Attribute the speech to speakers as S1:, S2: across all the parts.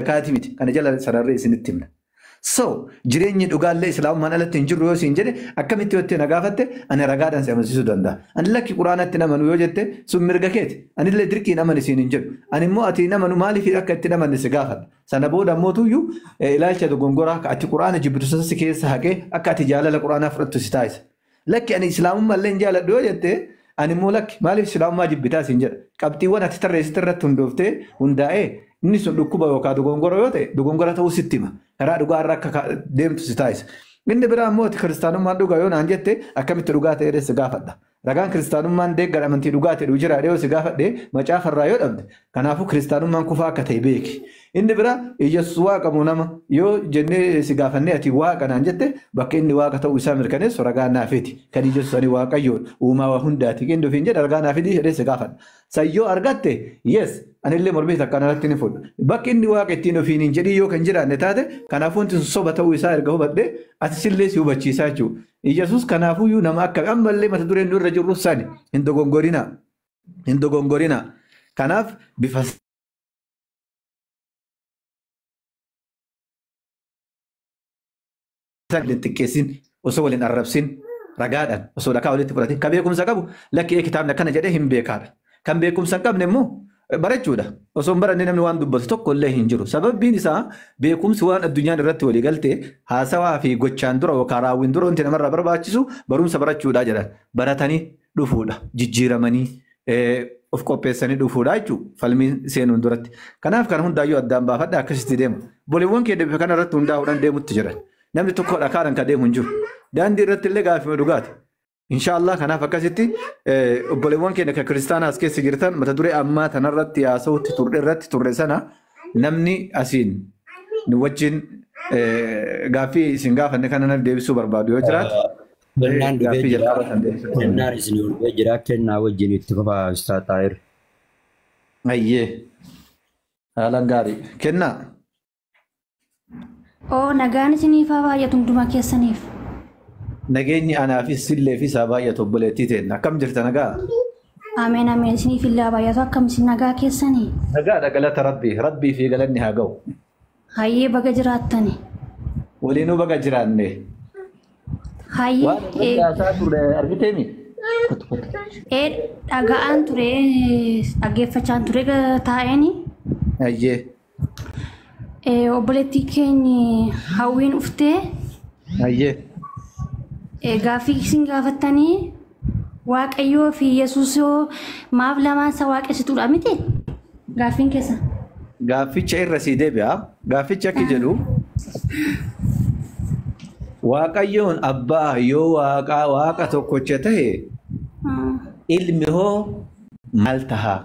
S1: zakaatii miti. Kana jala sararree isinitti himna. So jireenyi dhugaallee islaamummaan alatti hin jirru yoo siin jedhe akkamitti yoo na gaafatte ani ragaadhaan si amansiisuu danda'a. Ani lakki quraanatti nama nu yoo jette sun mirga keeti. Anillee dirqiin amani siin hin jedhu. Ani immoo ati nama nu maaliif akka itti namanne si gaafadha. Sana booda immoo tuyyuu eh, ilaalcha dogongoraa akka ati quraana jibbitu sana si keessa haqee akka ati jaalala quraanaa fudhattu si taasisa. Lakki ani islaamummaa illee hin jaaladhu yoo jette ani immoo lakki maaliif islaamummaa jibbitaa siin jedha. Qabxiiwwan ati tarreessite irratti hundooftee hundaa'ee inni sun dhukkuba yookaan dogongora yoo ta'e dogongora ta'uu sitti hima. Karaa dhugaa irra akka ka- deemtu si taasisa. Inni biraa immoo ati kiristaanummaan dhugaa yoo naan jette akkamitti dhugaa ta'e jedhee si gaafadha. Ragaan kiristaanummaan deeggar amantii dhugaa ta'e jira jedhee yoo si gaafadhe macaafa irraa yoo dhabde Kanaafuu kiristaanummaan kufaa akka ta'e beeki. Inni biraa Iyyasuus waaqa moo nama yoo jennee si gaafannee ati waaqa naan jette bakka inni waaqa ta'uu isaa mirkaneessu ragaa naa fidi. Kan Iyyasuus ani waaqayyoodha uumaa waa hundaati inni ofiin jedhe ragaa naa fidi jedhee si gaafadha. San yoo argatte yes anillee mormii takka anarratti hin fudhu. Bakki inni waaqa ittiin ofiin hin jedhin yoo kan jiraanne taate kanaafuu wanti sun soba ta'uu isaa erga hubadhe atis illee si hubachiisaa jechuudha. Iyyasuus kanaafuyyuu nama akka ammallee mata dureen nu irra jirru sani hin dogongorinaa. hin dogongorina kanaaf bifa waliin xiqqeessin osoo waliin arrabsin ragaadhaan osoo dhakaa walitti fudhatin ka beekumsa qabu lakki ee kitaabni akkana jedhee hin beekaadha kan beekumsa hin qabne immoo barachuudha osoo hin baranne namni waan dubbatu tokko illee hin jiru sababbiin isaa beekumsi waan addunyaan irratti walii galte haasawaa fi gochaan dura yookaan raawwiin dura wanti namarraa barbaachisu barumsa barachuudha jedhan baratanii dhufuudha. Jijjiiramanii of qopheessanii dhufuudha jechuudha. Falmii seenuun duratti. Kanaaf kana hundaayyuu addaan baafadha akkasitti deema. Boliiwwan kee deebifa kana irratti hundaa'uudhaan deemutti jiran. Namni tokko dhakaadhaan kan deemu hin jiru. Daandii irratti illee gaaffii dhugaati. Inshaallah kanaaf akkasitti obboleewwan keenya kan kiristaanaa as keessa jirtan mata duree ammaa tanarratti haasa'utti turre irratti turre sana namni asiin nu wajjin gaaffii isin gaafanne kana deebisuu barbaadu yoo jiraatu. Kennaan dhufee Gaaffii
S2: jira. jalqaba kan deebisan. Kennaan isin dhufee jira. Kennaa wajjin itti fufaa Ustaaz Xaahir.
S1: Ayyee. Haalan gaarii. Kennaa.
S3: Oo nagaan isiniif haa baay'atu hunduma keessaniif.
S1: Nageenyi anaafis sillee fi isaa baay'atu obboleettii teenna. Akkam jirta nagaa? Ameen
S3: ameen isiniif illee haa baay'atu akkam isin nagaa keessanii. Nagaadha galata
S1: Rabbii. Rabbii fi galanni haa ga'u. Hayyee baga
S3: jiraattani. Waliinuu
S1: baga jiraanne.
S3: Hayyee Waan eh, waliin
S1: haasaa turre argiteemi? Kottu kottu. eh,
S3: dhaga'aan ture eh, dhaggeeffachaan ture ga- taa'eeni.
S1: Hayyee. Eh,
S3: Obboleettii keenyi hawwiin uftee
S1: Hayyee.
S3: eh, gaaffii isin gaafattanii Waaqayyoo fi Yesuus yoo maaf lamaan isa waaqessituudha miti? Gaaffiin keessa. Gaafficha
S1: irra sii deebi'a. Gaaffichi akki jedhu Waaqayyoon abbaa yoo waaqaa waaqa tokkocha ta'e ilmi hoo maal taha?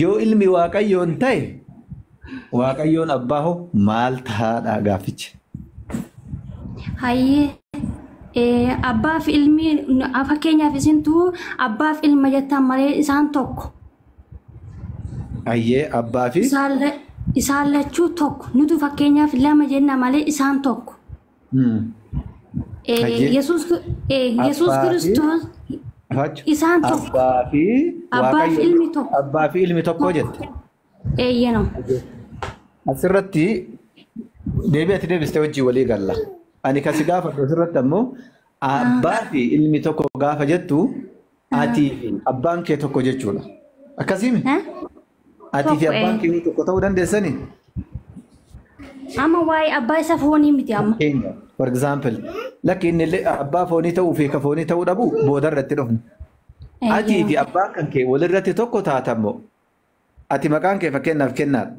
S1: Yoo ilmi waaqayyoon ta'e waaqayyoon abbaa hoo maal ta'aadha gaaffichi? Hayyee
S3: ee, abbaaf ilmi a- fakkeenyaaf isintu abbaaf ilma jettan malee isaan tokko Hayyee
S1: abbaa fi isaan la- isaan
S3: lachuu tokko nutu fakkeenyaaf lama jenna malee isaan tokko. Yesuus Kiristoos isaan tokko. Abbaa fi Abbaa
S1: fi ilmi tokko. Abbaa fi ilmi tokko jette. Eeyyenoo. Asirratti deebii ati deebiste hojii walii galla. Ani kasi gaafadhu asirratti ammoo abbaa fi ilmi tokko gaafa jettu Atii fi abbaan kee tokko jechuudha. Akkasiimi? Atii fi abbaan kee tokko ta'uu dandeessanii? Amma
S3: waa'ee abbaa isa foonii miti amma. Keenya, for example,
S1: lakki inni illee abbaa foonii ta'uu fi ka foonii ta'uu dhabu booda irratti dhufna. Atii fi abbaan kan kee walirratti tokko taatamoo? Ati maqaan kee fakkeenyaaf kennaa dha.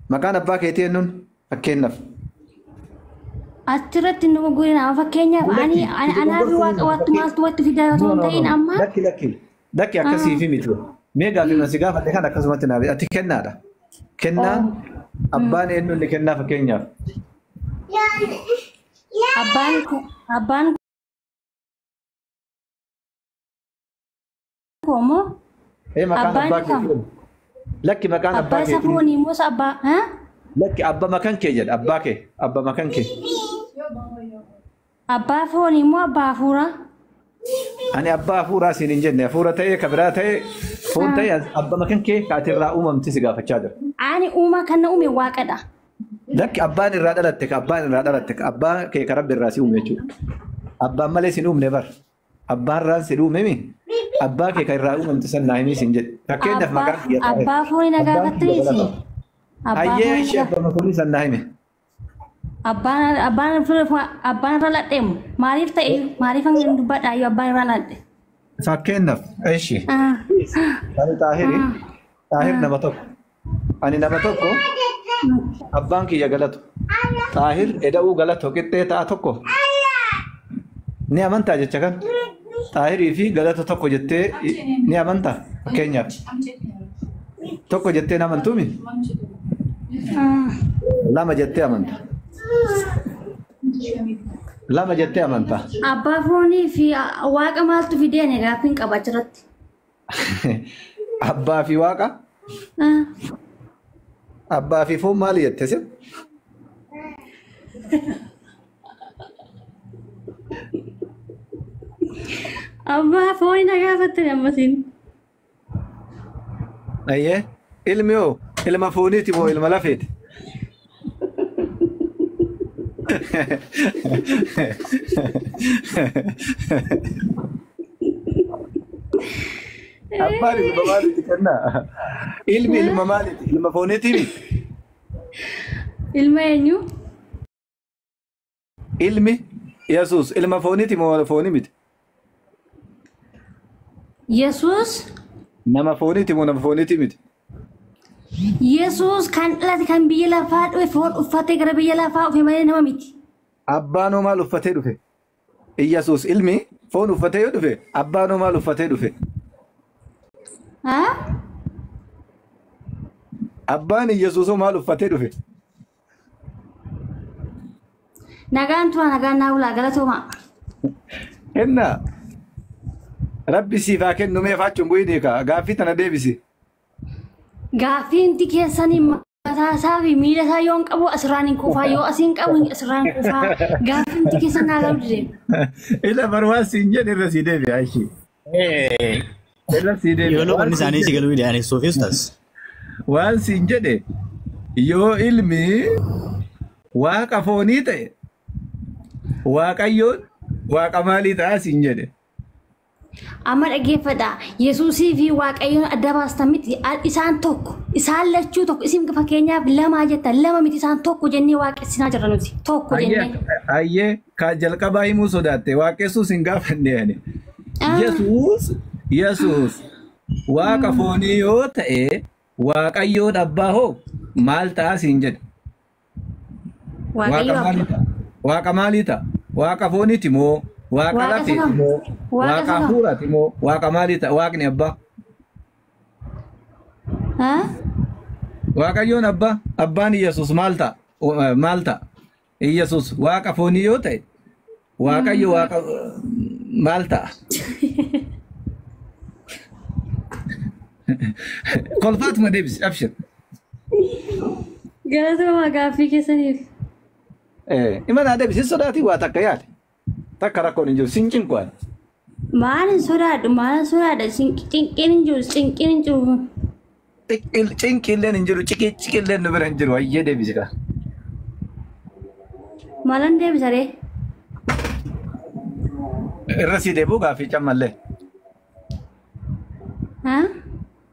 S1: Maqaan abbaa keetii eennuun? Fakkeenyaaf.
S3: Achirratti nu gurgurin amma fakkeenyaaf ani Lakki, ani- itti anaa fi gurgurtuu waaqa hin wattu jiru. maaltu watti fidaa No, osoo hin no, no, ta'in no. amma Lakki, lakki. Lakki
S1: akkasii fi miti. Mee gaaffii masi gaafadhe kan akkasumatti naaf ati kennaa dha. Kennaan abbaan eenyuun ni kennaa fakkeenyaaf. abbaan
S3: abbaan koo moo Ee maqaan Abbaan abbaa
S1: kee kam? jedhamu. Lakki maqaan abbaa abbaa kee. safuu ni moo sa abbaa
S3: ha? Lakki abba
S1: makan kee jedha abbaa kee abba makan kee.
S3: Abbaa foonii moo abbaa hafuuraa?
S1: Ani abbaa hafuuraa siin hin jenne hafuura ta'ee ka biraa ta'ee foon ta'ee as- abba
S3: makan
S1: kee ka ati
S3: irraa
S1: uumamte
S3: si
S1: gaafachaa jira. Ani uumaa
S3: kan na
S1: uume
S3: waaqadha.
S1: Lakki abbaan irraa dhalatte ka abbaan irraa dhalatte ka abbaa kee ka rabbi irraa si uume jechuudha. Abbaan malee siin uumne bar. Abbaa irraan si dhuumimi abbaa kee kan irraa uumamte san naa himii siin jedhe. Fakkeenyaaf maqaan kiyya irraa hime. Abbaa fooni na Abbaan kiyya gaafattaniiti.
S3: Galatoom. Abbaa Hayyee
S1: fooni ishee na abbaa makoonii san naa hime. Abbaan abbaan
S3: abbaan irra ladheemu maaliif ta'e maaliif hanga dubbadhaa yoo abbaan irra ladhe. Fakkeenyaaf
S1: ishi. Ah, Ani xaahiri. ah, Xaahir ah. nama tokko. Ani nama tokko abbaan kiyya galatu xaahir eda'uu galatu qixxee ta'a tokko ni amantaa jecha kan xaahirii fi galata tokko jettee ni amantaa fakkeenyaaf tokko jettee ni amantuumi lama jettee amanta lama jettee amanta Abbaa foonii
S3: fi waaqa maaltu fideen gaaffiin qaba achirratti.
S1: Abbaa fi waaqa? Ah, Abbaa fi foon maali jette sin?
S3: Abbaa fooni na gaafatte ammatiin.
S1: Ayyee. Ilmi hoo? Ilma fooniiti moo ilma lafeeti? Abbaan ilma maaliiti kennaa? Ilmi ilma maaliiti? Ilma fooniitiimi?
S3: Ilma eenyu?
S1: Ilmi Yesuus ilma fooniiti moo fooni miti?
S3: Yesuus Nama
S1: fooniiti moo nama fooniiti miti? Yesuus
S3: kan dhalate kan biyya lafaa dhufe foon uffatee gara biyya lafaa dhufe malee nama miti. Abbaan hoo maal
S1: uffatee dhufe? Iyyasuus ilmi foon uffatee yoo dhufe abbaan hoo maal uffatee dhufe? Haa? Abbaan Iyyasuus hoo maal uffatee dhufe?
S3: Nagaan turaa nagaan naa bulaa galatoomaa.
S1: Inna rabbi siif haa kennu mee faachuun bu'iinii kaa gaaffii tana deebisi. Gaaffiinti
S3: keessanii mataa isaa fi miila isaa yoon qabu asirraan hin kufaa yoo asiin qabu asirraan hin kufaa gaaffiinti keessan naa galuu dide. Ila barwaan
S1: siin jedhe irra sii deebi'a ishii. Irra sii Yoo deebi'a. loqonni Waan siin isaanii si jedhe. galuu dide
S4: ani suufii ustaas. Waan
S1: siin jedhe. Yoo ilmi waaqa foonii ta'e waaqayyoon waaqa maalii ta'a siin jedhe.
S3: Amma dhaggeeffadha. Yesuusii fi Waaqayyoon adda baastan miti. A- Isaan tokko. Isaan lachuu tokko. Isin fakkeenyaaf lamaa jettan. Lama miti isaan tokko jennee waaqessinaa jirra nuti. Tokko Ayyee jennee. ayyee Ka
S1: jalqabaa himuu sodaatte waaqessuu sin gaafanne ani. Ah. Yesuus Yesuus waaqa foonii yoo ta'e waaqayyoon abbaa hoo maal ta'a siin jedhe. Waaqa Waaqayyo maalii ta'a? Waaqa maalii ta'a? Waaqa fooniiti moo? Waaqa Waaqa lafeeti sanaa. moo? Waaqa Waaqa sanaa. hafuuraati moo? Waaqa maalii ta'a? Waaqni abbaa. Ah? Waaqayyoon abbaa. Abbaan Yesuus maal ta'a? Maal ta'a? Iyyasuus waaqa foonii yoo ta'e waaqayyo waaqa maal ta'a? Kolfaatuma deebisi abshir.
S3: Galatoomaa gaaffii keessaniif.
S1: Imanaa deebisi sodaatii waa takka yaali. Takka rakkoon hin jiru sin cinqu ani. Maal hin
S3: sodaadhu maal hin sodaadha cinqiin hin jiru cinqiin hin jiru. Cinqil- Cinqiilleen
S1: hin jiru ciqii ciqilleen nu bira hin jiru hayyee deebisi kaa.
S3: Maalan deebisa ree?
S1: Irra sii deebuu gaaffii cammallee.
S3: Haa?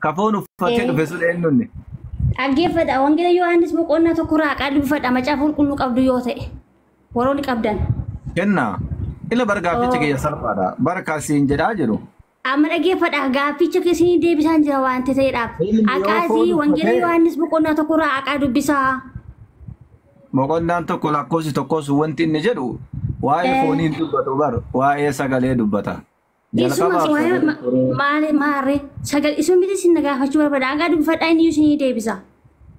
S1: Kafoon uffatee dhufe sun eenyu inni? Dhaggeeffadha.
S3: Wangeela Yohaannis boqonnaa tokko irraa haqaa dubbifadha. Macaafa qulqulluu qabdu yoo ta'e. Warroonni qabdan. Kenna.
S1: Ila bar gaafficha kiyya salphaadha. Bar kaasiin jedhaa jedhu. Amma dhaggeeffadha.
S3: Gaafficha keessanii deebisaan jira waan ta'eedhaaf. Haqaasii Wangeela Yohaannis boqonnaa tokko irraa haqaa dubbisaa.
S1: Boqonnaan tokko lakkoofsi tokkos wanti inni jedhu waa'ee fooniin dubbatu bar waa'ee sagalee dubbata. Isuma Jalqabaaf suwaya sagalee
S3: turee. maale maarre sagal isun miti isin nagaafachuu barbaada hagaa dubbifadhaa inni isin deebisa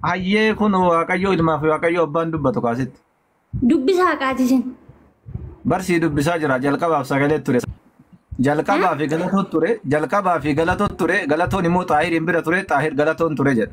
S1: Hayyee
S3: kun
S1: Waaqayyoo ilmaa fi
S3: Waaqayyoo
S1: abbaan dubbatu kaasitti.
S3: dubbisa haqaati isin Barsii
S1: dubbisaa jira jalqabaaf sagalee ture. Jalqabaa fi galatoo ture. Jalqabaa fi galatoo ture. Galatoon immoo xaahiriin bira ture. Xaahir galatoon ture jedha.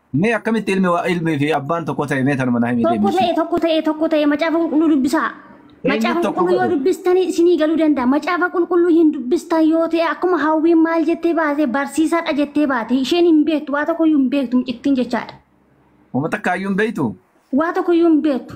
S3: Mee akkamitti
S1: ilmi wa- ilmii fi abbaan tokko ta'e mee tanuma na himi Tokko deemisi. ta'e tokko ta'e tokko ta'e macaafa
S3: qulqulluu dubbisaa. Eenyu Macaafa tokko qulqulluu yoo godhe? dubbistanii isinii galuu danda'a. Macaafa qulqulluu hin dubbistan yoo ta'e akkuma hawwiin maal jettee baate barsiisaadha jettee baate isheen hin beektu waa tokkoyyuu hin beektu mucittiin jechaadha. Uummata
S1: kaayyuu hin beektu. Waa tokkoyyuu hin
S3: beektu.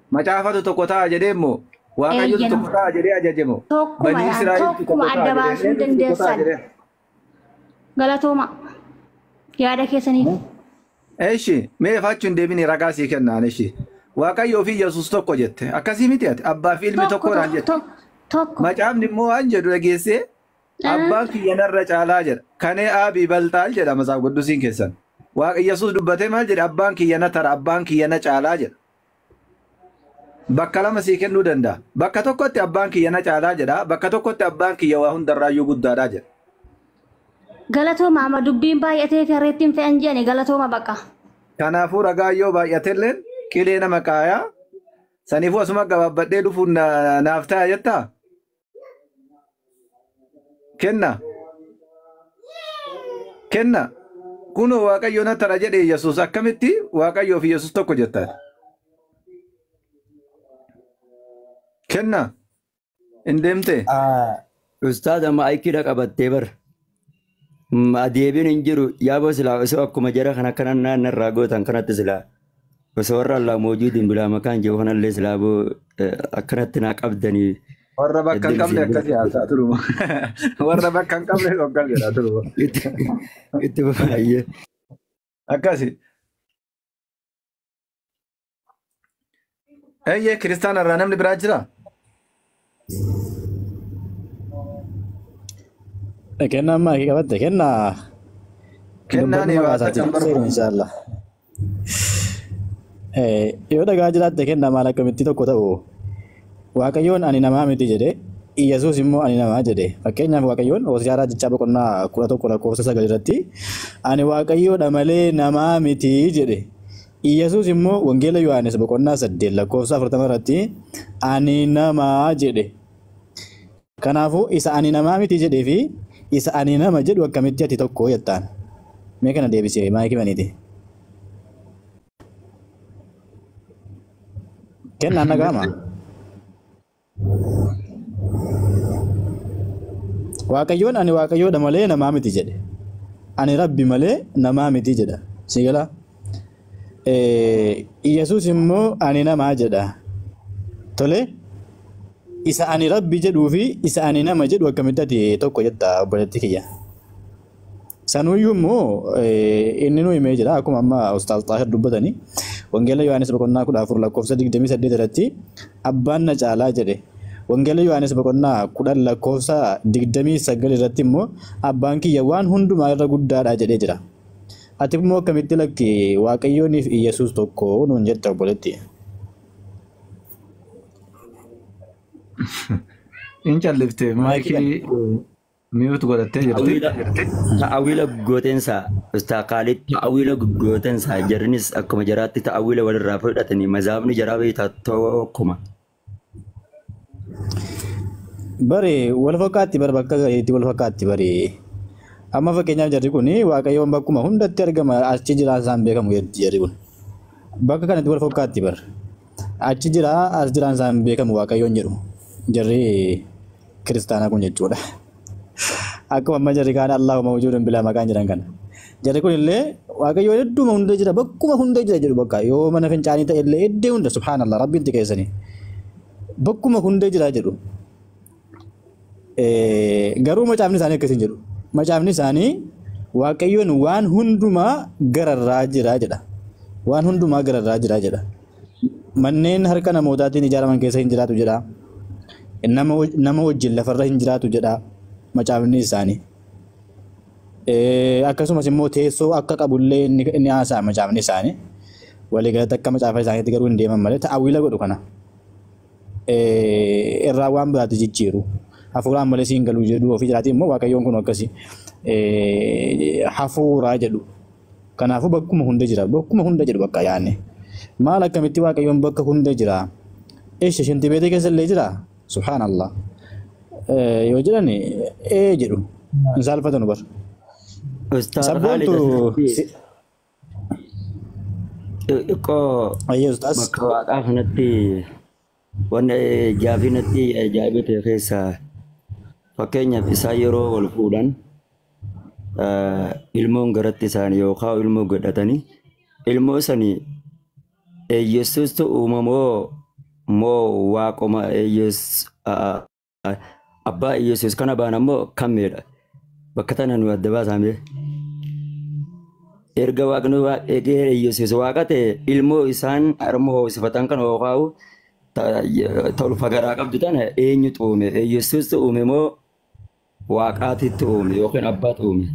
S3: Macaafatu
S1: tokko ta'a jedhee immoo Waaqayyotu Eeyyeen. tokko ta'a jedhee ajaje moo? Tokkuma Banii yaa, Israa'eltu tokko tokkuma
S3: ta'a adda jedhee baasuu eenyutu tokko ta'a dandeessan. jedhee? Galatooma. Yaada keessaniif. Eshi
S1: mee faachu hin deebine ragaa sii kennaan eshi. Waaqayyoo fi Yesuus tokko jette. Akkasii miti ati abbaa fi ilmi Tokko tokko naan tokko jette. tokko tokko. Macaafni immoo waan jedhu dhageessee Ah, abbaan kiyya narra caalaa jedha. Kanee aabii baltaal jedha masaaf quddusiin keessan. Waaqa Yesuus dubbatee maal jedhe abbaan kiyya na tara abbaan kiyya na caalaa jedha. bakka lama sii kennuu danda'a. Bakka tokkotti abbaan kiyya na caalaa jedha, bakka tokkotti abbaan kiyya waa hundarraayyuu guddaadha jedha.
S3: Galatooma amma dubbiin baay'atee fi harreettiin fe'an jedhani galatooma baqa. Kanaafuu
S1: ragaan yoo baay'atelleen qilee nama qaayaa saniifuu asuma gabaabbadhee dhufuun na- naaf ta'a jettaa? kenna kenna kunoo waaqayyo na tara jedhe yesus akkamitti waaqayyoo fi yesus tokko jettaan kenna hin deemtee Ustaaza
S2: maayikiidha qabattee bar. Ma deebiin hin jiru yaaboo silaa osoo akkuma jara kan akkana naanna irraa gootan kanatti silaa osoo warra allaa moojuudiin bilaa makaan jiru kanallee silaa boo eh, akkanatti naa qabdanii Warra bakka hin
S1: qabne akkas yaasaa turuma. Warra bakka hin qabne akkas jedhaa turuma. itti itti
S2: baay'ee.
S1: Akkasi. Eeyyee kiristaana irraa namni biraa jira?
S4: Kennaa ammaa kee qabatte kennaa
S1: Kennaan dubbannuma hiwaasa kaasaa kan jiru barbaadu.
S4: inshaallah. Eh, Yoo dhagaa jiraatte kennaa maal akkamittii tokko ta'u Waaqayyoon ani namaa miti jedhe Iyyasuus immoo ani namaa jedhe fakkeenyaaf Waaqayyoon Hosiyaa Raajichaa boqonnaa kudha tokko lakkoofsa sagal irratti ani Waaqayyoodha malee namaa miti jedhe Iyyasuus immoo Wangeela Yohaannis boqonnaa 8 lakkoofsa 40 irratti ani namaa jedhe. Kanaafuu isa ani namaa miti jedhee fi isa ani nama jedhu akkamitti ati tokko jettaan? Mee kana deebisee maayikii baniiti. Kennaan dhaga'ama. Waaqayyoon ani waaqayyoodha malee namaa miti jedhe. Ani rabbi malee namaa miti jedha. Si gala? Yesuus immoo ani namaa jedha. Tole isa ani rabbi jedhuu fi isa ani nama jedhu akkamitti ati tokko jetta obboleetti kiyya. Sanuyyuu immoo inninuu himee jira akkuma amma Ustaaz Xaahir dubbatani Wangeela Yohaannis boqonnaa 14 lakkoofsa 28 irratti abbaan na caalaa jedhe. Wangeela Yohaannis boqonnaa 10 lakkoofsa 29 irratti immoo abbaan kiyya waan hundumaa irra guddaadha jedhee jira. Ati immoo akkamitti lakki Waaqayyooniif Iyyasuus tokko nuun jette obboletti.
S1: Hin callifte Maayikii maayikii Mute godhattee jirti. Ta'awiila ta'awiila
S2: gootensaa Ustaaz Kaalid ta'awiila gootensaa jarrinis akkuma jaraatti ta'awiila walirraa fudhatanii mazaabni jaraa beektaa tokkuma.
S4: Bari wal fakkaatti bari bakka gariitti wal fakkaatti bari. Amma fakkeenyaaf jarri kun waaqayyoon bakkuma hundatti argama achi jiraan isaan beekamu jetti jarri kun. Bakka kanatti wal fakkaatti bari. Achi jiraa as jiraan isaan beekamu waaqayyoon jedhu jarri kiristaanaa kun jechuudha. Akkuma amma jarri kaan Allahu mawjuudun bilaa maqaan jedhan kana. Jarri kun illee waaqayyoo hedduuma hundee jira bakkuma hundee jira jedhu bakka yoo mana fincaanii ta'e illee iddee hunda subhaanallah rabbiin xiqeessanii bakkuma hundee jira jedhu. Garuu macaafni isaanii akkasii hin jedhu. Macaafni isaanii waaqayyoon waan hundumaa gararraa jira jedha. Waan hundumaa gararraa jira jedha. Manneen harka namootaatiin ijaaraman keessa hin jiraatu jedha. Nama, nama wajjin lafarra hin jiraatu jedha macaafni isaanii. Eh, Akkasumas immoo teessoo akka qabullee inni inni haasa'a macaafni isaanii. Waliigalatti akka macaafa isaaniitti garuu hin deeman malee ta'awwiila godhu kana. eh, irraa waan biraatti jijjiiru. Hafuuraan malee siin galuu jedhu ofii jiraatii immoo waaqayyoon kun akkasi eh, hafuuraa jedhu. Kanaafuu bakkuma hunda jira. Bakkuma hunda jedhu bakka yaane. Maal akkamitti waaqayyoon bakka hunda jira? Eesha shantii beetee keessa illee jira? Subhaanallah. Eh, Yoo jedhan ee jedhu. Hin saalfatanu bar. Ustaaz Khalid Sabboontu asirratti si-
S2: Xiqqoo Ayyee ustaas. bakka waaqaa kanatti wanna gaafii natti ajaa'iba ta'e keessaa fakkeenyaaf isaan yeroo wal fuudhan eh, ilmoon garatti isaanii yookaan ilmoo godhatanii ilmoo sanii eeyyeessuustu uumamoo moo waaquma eeyyees Abbaa Iyyasuus kana baana immoo kan miidha. Bakka tana nu adda baasaame. Erga waaqni waa eegee Iyyasuus waaqa ta'e ilmoo isaan harma hoosifatan kan hookaa'u tolfa garaa qabdu tana eenyutu uume? Iyyasuustu uume moo waaqaatitti uume yookiin abbaatu uume?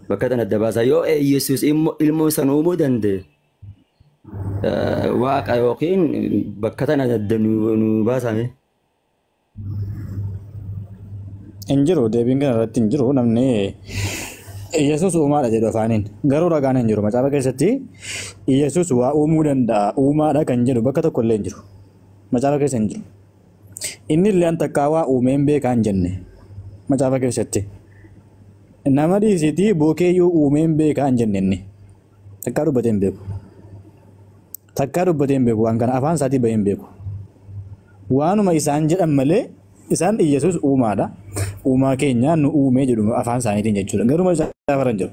S2: Bakka tana adda baasaa yoo Iyyasuus ilmoo san uumuu danda'e Waaqa yookiin bakka tana adda nu nu baasame.
S4: Hin jiru deebiin kana irratti hin jiru namni Yesuus uumaadha jedhu afaaniin garuu ragaan hin jiru macaafa keessatti Yesuus waa uumuu danda'a uumaadha kan jedhu bakka tokko illee hin jiru macaafa keessa hin jiru inni illee an takkaa waa uumeen beekaa hin jenne macaafa keessatti nama dhiisitii bookeeyyuu uumeen beekaa hin jenne inni Takkaa dubbatee hin beeku. Takkaa dubbatee hin beeku waan kana afaan isaatii bahee hin beeku. Waanuma isaan jedhan malee isaan Iyyasuus uumaadha. Uumaa keenya nu uumee jedhu afaan isaaniitiin jechuudha. Garuu macaafa irra hin jiru.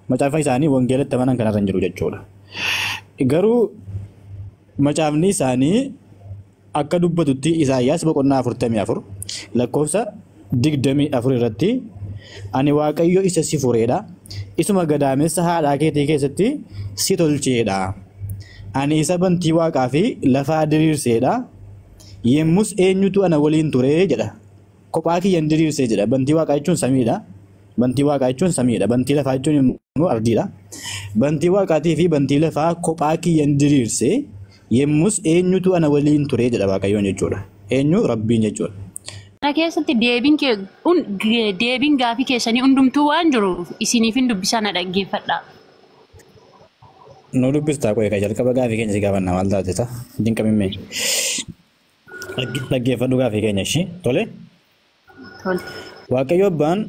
S4: Macaafa isaanii wangeelatti amanan kanarra hin jiru jechuudha. Garuu macaafni isaanii Akka dubbatutti Isaayyaas boqonnaa 44 lakkoofsa 24 irratti Ani Waaqayyo isa si fureedha, isuma gadaamessa haadhaa keetii keessatti si tolcheedha. Ani isa bantii waaqaa fi lafaa diriirseedha, yemmus eenyutu ana waliin ture jedha. Kophaa kiyyan diriirse jedha. Bantii waaqaa jechuun samiidha. Bantii waaqaa jechuun samiidha. Bantii lafaa jechuun immoo ardiidha. Bantii waaqaatii fi bantii lafaa kophaa kiyyan diriirse yemmus eenyutu ana waliin ture jedha Waaqayyoon jechuudha. Eenyu Rabbiin jechuudha. Kana keessatti
S5: deebiin kee hun- ge- deebiin gaafii keessanii hundumtuu waan jiru isiniifin dubbisaa na dhaggeeffadhaa.
S4: Nu dubbistaa qo'ee kan jalqaba gaafii keenya si gaafanna maal taateta? Dinqamimmee. Dhagge- Dhaggeeffadhu gaafii keenya ishii. Tole. Tole. Waaqayyo abbaan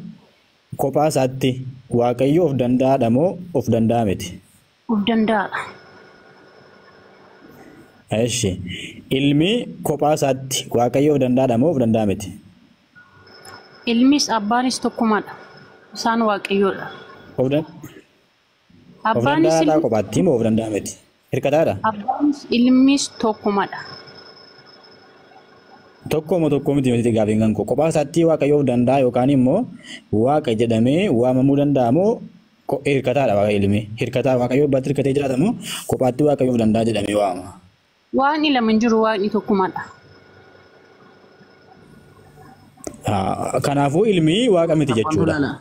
S4: kophaa isaatti waaqayyo of danda'aadha moo of danda'a miti? Of
S5: danda'aadha.
S4: Eshi. Ilmi kophaa isaatti waaqayyo of danda'aadha moo of danda'a miti?
S5: Ilmis abbaanis tokkumadha. Isaan waaqayyoodha. Of dan- Of
S4: Abbaanis danda'aadhaa ilmis kophaatti moo of danda'a miti? Hirkataadha? abbaanis
S5: ilmis tokkumadha.
S4: Tokko moo tokko miti miti gaafiin kan koo kophaa isaatti waaqayyo of danda'a yookaan immoo waaqa jedhamee waamamuu danda'a moo ko- hirkataadha waaqa ilmi hirkataa waaqayyo abbatti hirkatee jiraata moo kophaatti waaqayyo of danda'a jedhamee waama. Waaqni lama
S5: hin jiru waaqni tokkumadha. Ah,
S4: Kanaafuu ilmi waaqa miti jechuudha. Abbaanolala.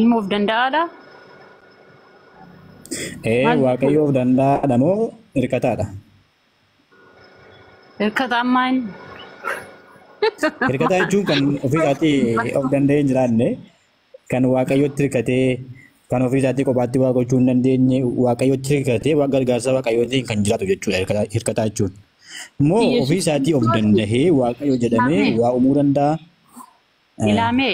S5: Ilma of danda'aadha.
S4: Ee Maal waaqayyo of danda'aadha moo hirkataadha?
S5: Hirkata ammaa inni.
S4: Hirkataa jechuun kan ofii isaatii of danda'ee hin jiraanne kan waaqayyotti hirkatee Kan ofii isaatii kophaatti waa gochuu hin dandeenye waaqayyotti hirkatee waan gargaarsa waaqayyootiin kan jiraatu jechuudha hirkata- hirkataa jechuun. Moo ofii Yesuus isaatii of Kiristoos dandahee waaqayyo jedhamee
S5: Ilaamee. waa
S4: uumuu danda'a? Eh, Ilaamee